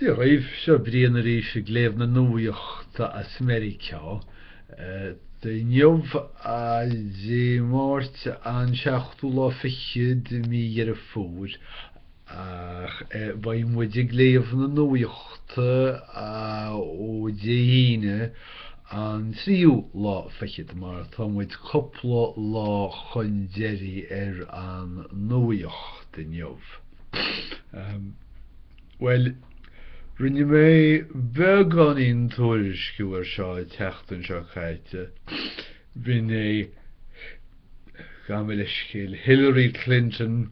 Dia dhaoibh, seo Brian arís ag léamh na nuaíochta as Meiriceá. Inniu an Dé Máirt an seachtú lá fichead de mhí Dheireadh Fómhair. Ach beidh muid ag léamh na nuaíochta ó Dé hAoine, an tríú lá fichead, mar atá muid cúpla lá chun deiridh ar an nuaíocht inniu. Bhuel, rinne mé beagáinín tuairisciú ar seo an tseachtain seo caite. B'in é, gabh mo leithscéal, Hillary Clinton,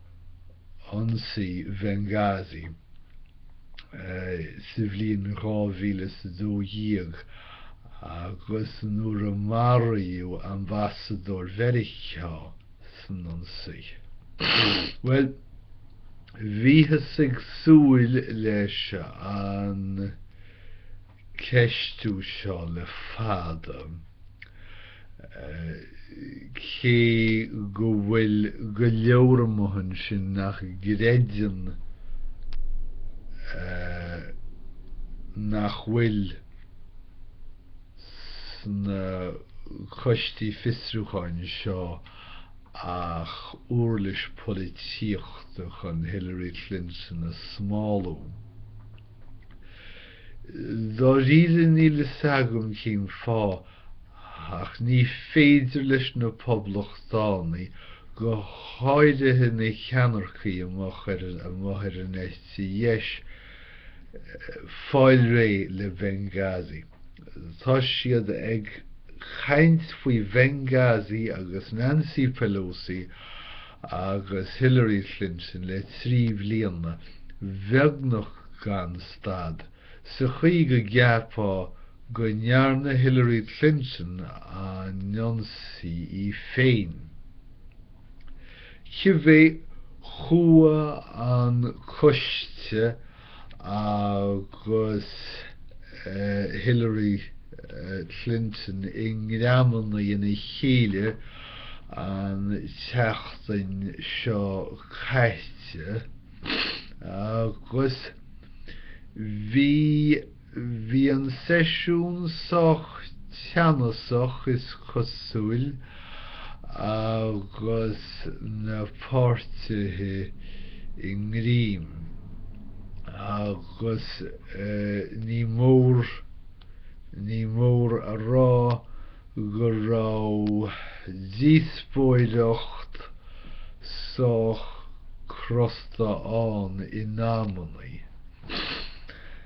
ionsaí Bhenghazi sa bhliain 2012 agus nuair a maraíodh ambasadóir Mheiriceá san ionsaí. Bhuel, bhíothas ag súil leis an. ceistiú seo le fada, cé go bhfuil go leor amuigh ansin nach gcreideann nach bhfuil sna coistí fiosrúcháin seo ach uirlis polaitíochta chun Hillary Clinton a smálú. Dáiríre níl a fhios agam cén fáth ach ní féidir leis na Poblachtánaigh, go háirithe na ceannaircigh amuigh ar an eite dheis, fáil réidh le Benghazi. Tá siad ag caint faoi Bhenghazi agus Nancy Pelosi agus Hillary Clinton le trí bhliana bheagnach gan stad, sa chaoi go gceapfá go ndearna Hillary Clinton an ionsaí í féin. Cibé, chuaigh an coiste agus Hillary Clinton i ngreamanna ina chéile an tseachtain seo caite agus bhí Bhí an seisiún sách teannasach is cosúil agus na páirtithe i ngreim agus ní mór ní mór a rá go raibh díospóireacht sách crosta ann in amannaí.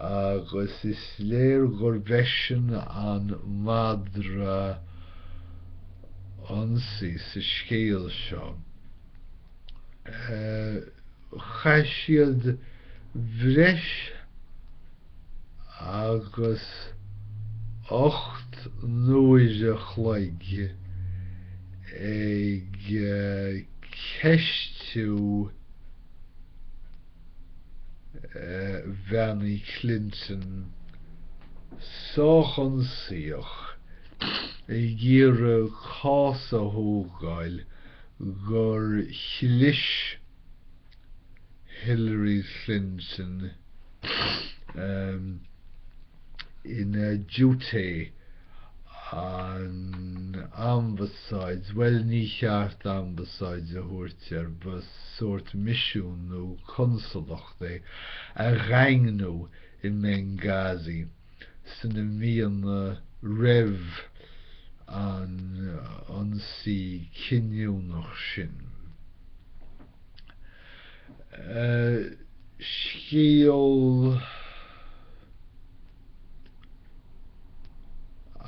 agus is léir gurb eisean an madra ionsaí sa scéal seo. Chaith siad breis agus ocht n-uaire an chloig ag ceistiú, Hillary Clinton sách ionsaíoch ag iarraidh cás a thógáil gur chlis Hillary Clinton ina diúité an ambasáid, bhuel ní cheart ambasáid a thabhairt air, ba sórt misiún nó consalacht é, a dhaingniú i mBenghazi sna míonna roimh an ionsaí cinniúnach sin. scéal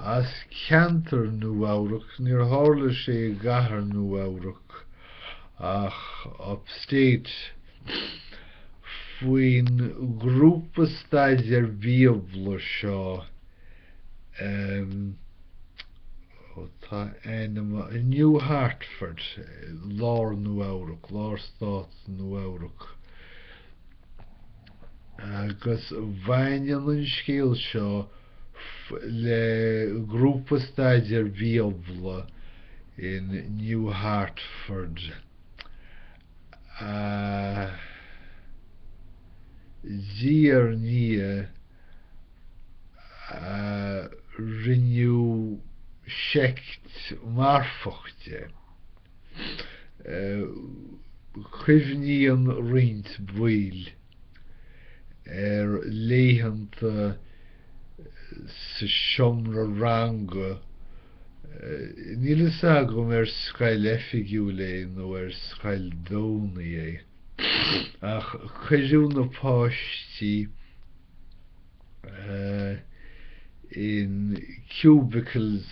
as ceantar Nua-Eabhrac, níor tharla sé i gcathair Nua-Eabhrac ach upstate, faoin ngrúpa staidéir Bíobla seo. Tá in New Hartford, Lár Nua-Eabhrac, Lár Stát Nua-Eabhrac, agus baineann an scéal seo le grúpa staidéir Bíobla in New Hartford de réir mar a rinneadh seict mharfach de. Cuimhníonn roinnt baill ar laethanta sa seomra ranga, níl fhios agam ar scoil oifigiúil é nó ar scoil Domhnaigh é, Ach cuireadh na páistí in cubicles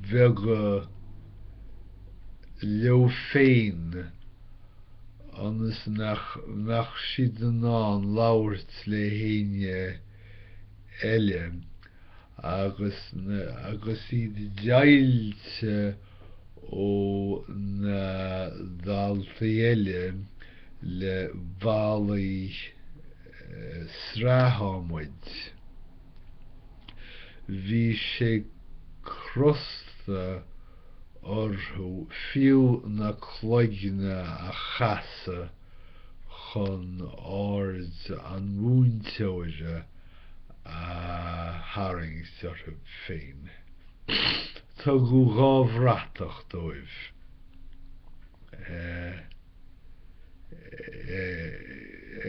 beaga leo féin ionas nach mbeadh siad in ann labhairt le héinne eile. agus na agus iad deighilte ó na daltaí eile le ballaí sraithadhmaid. Bhí sé crosta orthu fiú na cloigne a chasadh chun aird an mhúinteora a tharraingt orthu féin. Tugadh dhá bhratach dóibh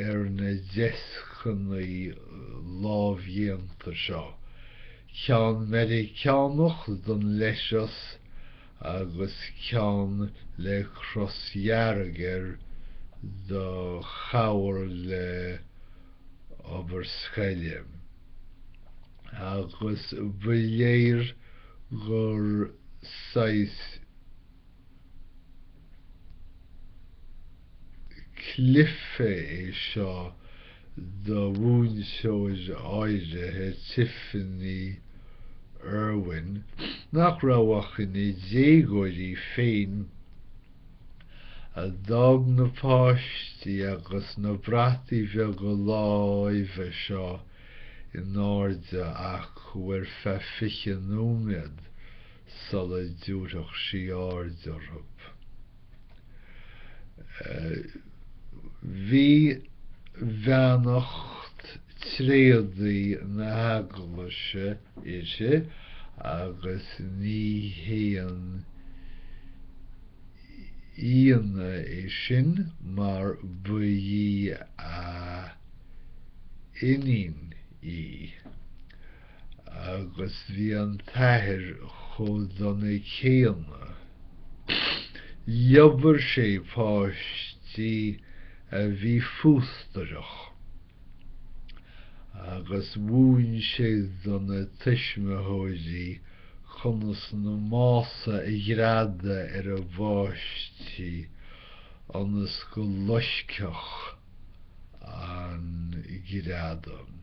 ar na deascanna lámhdhéanta seo, ceann Meiriceánach don leithreas agus ceann le cros dhearg air do chabhair le obair scoile, agus ba léir gur saghas cluiche é seo do mhúinteoir áirithe, Tiffany Irwin, nach raibh ach ina déagóir í féin a d'fhág na páistí agus na brataí beaga láimhe seo in airde acu ar feadh fiche nóiméad sula dtiúrfadh sí aird orthu. Bhí beannacht tréadaí na hEaglaise uirthi agus ní haon ionadh é sin mar ba í a iníon í agus bhí an t-athair chomh dona céanna. Dhíbir sé páistí a bhí fústrach. agus mhúin sé do na tuismitheoirí conas na mása a ghreadadh ar a bpáistí ionas go loiscfeadh an greadadh.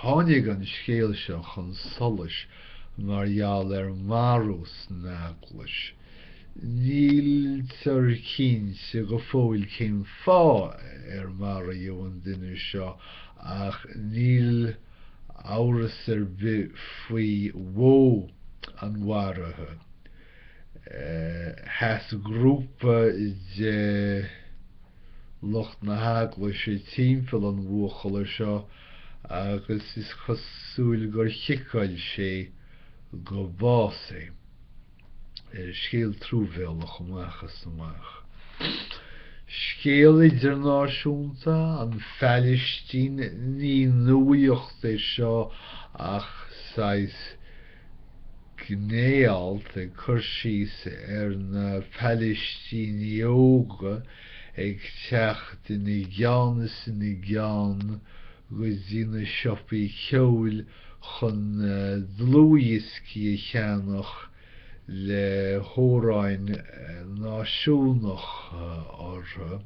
Tháinig an scéal seo chun solais mar gheall ar mharú san eaglais. Níltear cinnte go fóill cén fáth ar maraíodh an duine seo ach níl amhras ar bith faoi mhodh an mharaithe. Sheas grúpa de lucht na heaglaise timpeall an bhuachalla seo agus is cosúil gur chiceáil sé go bás é. Scéal truamhéalach amach is amach. Scéal idirnáisiúnta, an Phailistín, ní nuaíocht é seo ach saghas gné-alt ag cur síos ar na Pailistínigh óga ag teacht ina gceann is ina gceann go dtí na siopaí ceoil chun dlúthdhioscaí a cheannach le hamhráin náisiúnacha orthu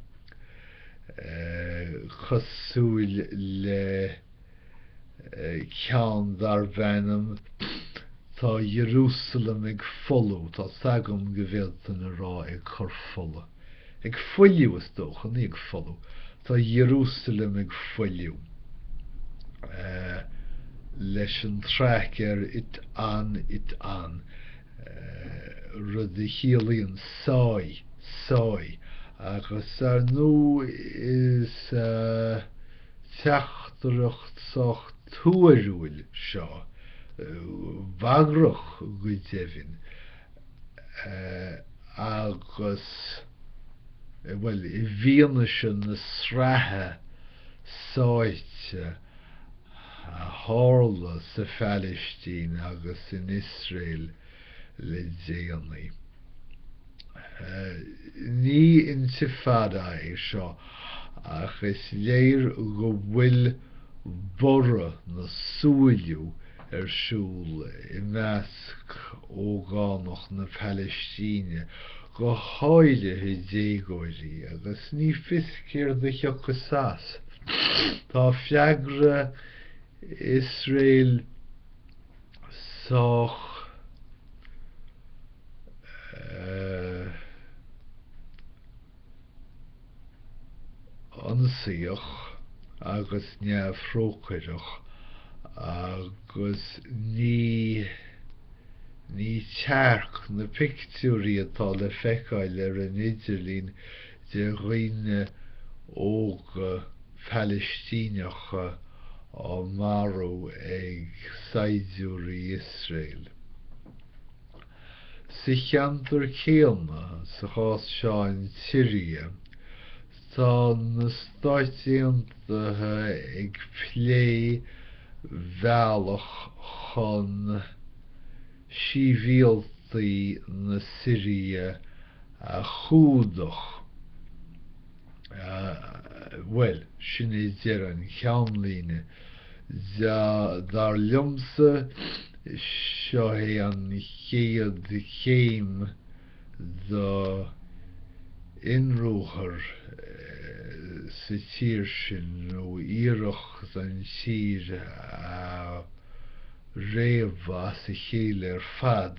cosúil le ceann darb ainm 'Tá Ierúsalem ag Folú', tá 's agam go bhféadfainn a rá 'ag cur fola'. Ag fuiliú, is dócha, ní ag folú. Tá Ierúsalem ag fuiliú leis an traic ar it an, it an, rud a chiallaíonn sáigh, sáigh, agus, ar ndú, is teachtaireacht sách tuarúil é seo, bagrach go deimhin, agus bhuel, i bhfianaise na sraithe sáite a tharla sa Phalaistín agus in Iosrael le déanaí, ní intifada é seo ach is léir go bhfuil borradh nó súiliú ar siúl i measc ógánach na Palaistíne, go háirithe déagóirí, agus ní fios céard a thiocfas as. Tá freagra Iosrael sách ionsaíoch agus neamhthrócaireach agus ní ní tearc na pictiúirí atá le feiceáil ar an idirlín de dhaoine óga Palaistíneacha á marú ag saighdiúirí Iosrael. Sa cheantar céanna, sa chás seo an tSiria, tá na Stáit Aontaithe ag plé bealach chun síbhialtaigh na Siria a chumhdach. Bhuel, sin é deireadh an cheannlíne. Dar liomsa, seo é an chéad chéim do ionruathar sa tír sin, nó iarracht an tír a réabadh as a chéile ar fad.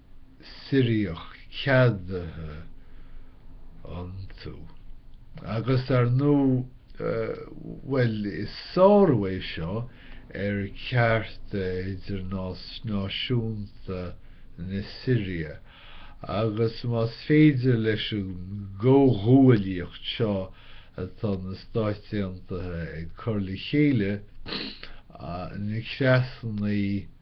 Siriach ceadaithe iontu. Agus, ar ndú, bhuel, is sárú é seo ar chearta idirnáisiúnta na Siria agus más féidir leis an gcomhghuaillíocht seo atá na Stáit Aontaithe ag cur le chéile, na creasannaí,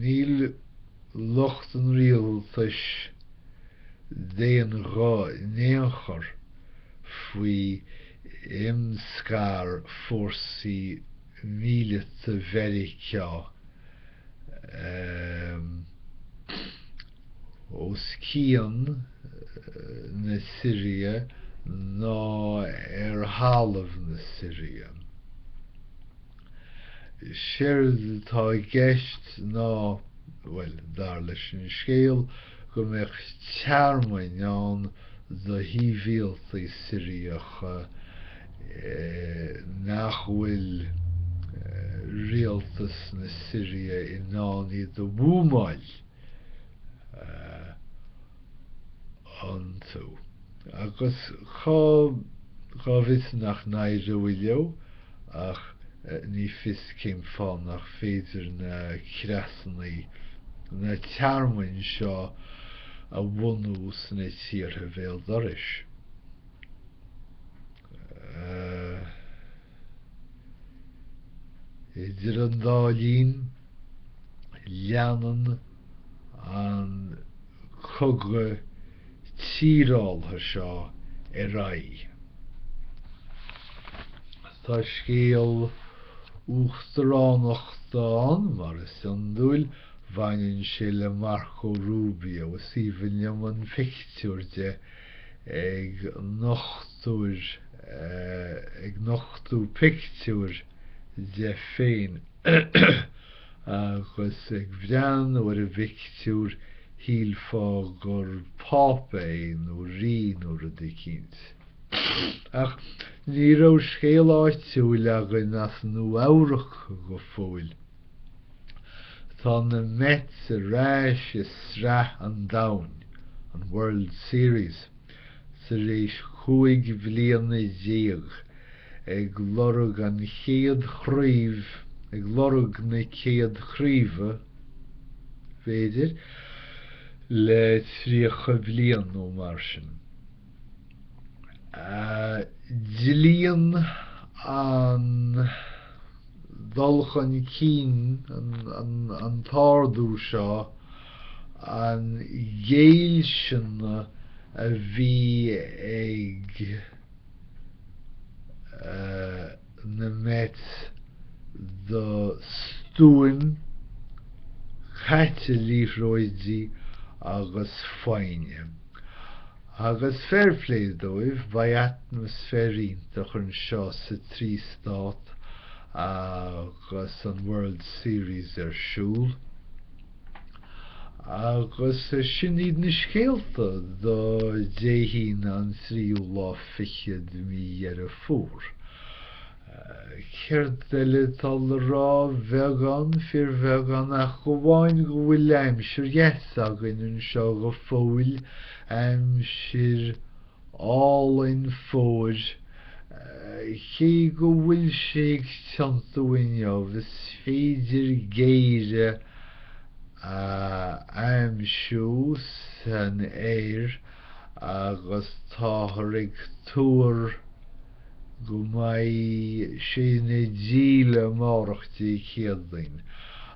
Níl lucht an rialtais d'aon ghuth in aon chor faoi imscaradh fórsaí míleata Mheiriceá. os cionn na Siria ná ar thalamh na Siria. Séard atá i gceist ná, bhuel, dar leis an scéal, go mbeadh tearmainn ann do shibhialtaigh Siriacha nach bhfuil rialtas na Siria in ann iad a bhuamáil. iontu. Agus cá bhfios nach n-éireoidh leo, ach ní fios cén fáth nach féidir na creasannaí, na tearmainn seo a bhunú sna tíortha bhéal dorais. Idir an dá linn. Leanann an cogadh tíreálaithe seo ar aghaidh. Tá scéal uachtaránachta ann, mar is iondúil, baineann sé le Marco Rubio, is aoibhinn liom an pictiúr de ag nochtú pictiúr de féin. Agus ag breathnú ar an bpictiúr, shílfeá gur Pápa é nó Rí nó rud eicínt. Ach ní raibh scéal áitiúil againn as Nua-Eabhrac go fóill. Tá na Mets ar ais i Sraith an Domhain, an World Series, tar éis chúig bhliana déag ag lorg an chéad chraoibh, ag lorg na céad craoibhe, b'fhéidir, le tríocha bliain nó mar sin. Dlíonn an. dhul chun cinn an t-ardú seo an ghéillsine a bhí ag na Mets do stuaim caite liathróidí agus foighne. Agus fair play dóibh, beidh atmaisféar iontach anseo sa trí stát agus an World Series ar siúl. Agus sin iad na scéalta do Dé hAoine an tríú lá fichead de mhí Dheireadh Fómhair. Céard eile atá le rá? Bheagán, fíorbheagán, ach amháin go bhfuil aimsir dheas againn anseo go fóill, aimsir álainn fómhair. Cé go bhfuil sé ag tiontú inniu, is féidir géire a aimsiú san aer agus táthar ag tuar, go mbeidh sé ina dhíle amárach Dé Céadaoin,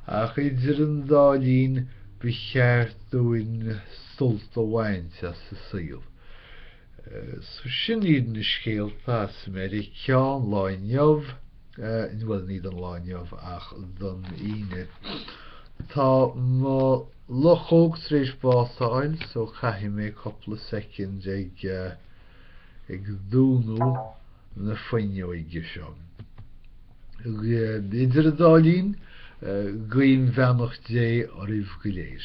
ach idir an dá linn ba cheart dúinn sult a bhaint as an saol. So sin iad na scéalta as Meiriceá an lá inniu, bhuel ní don lá inniu ach don Aoine. Tá mo luchóg tar éis bás a fháil so caithfidh mé cúpla soicind ag. ag dúnadh na fuinneoige seo. Idir an dá linn, guím beannacht Dé oraibh go léir.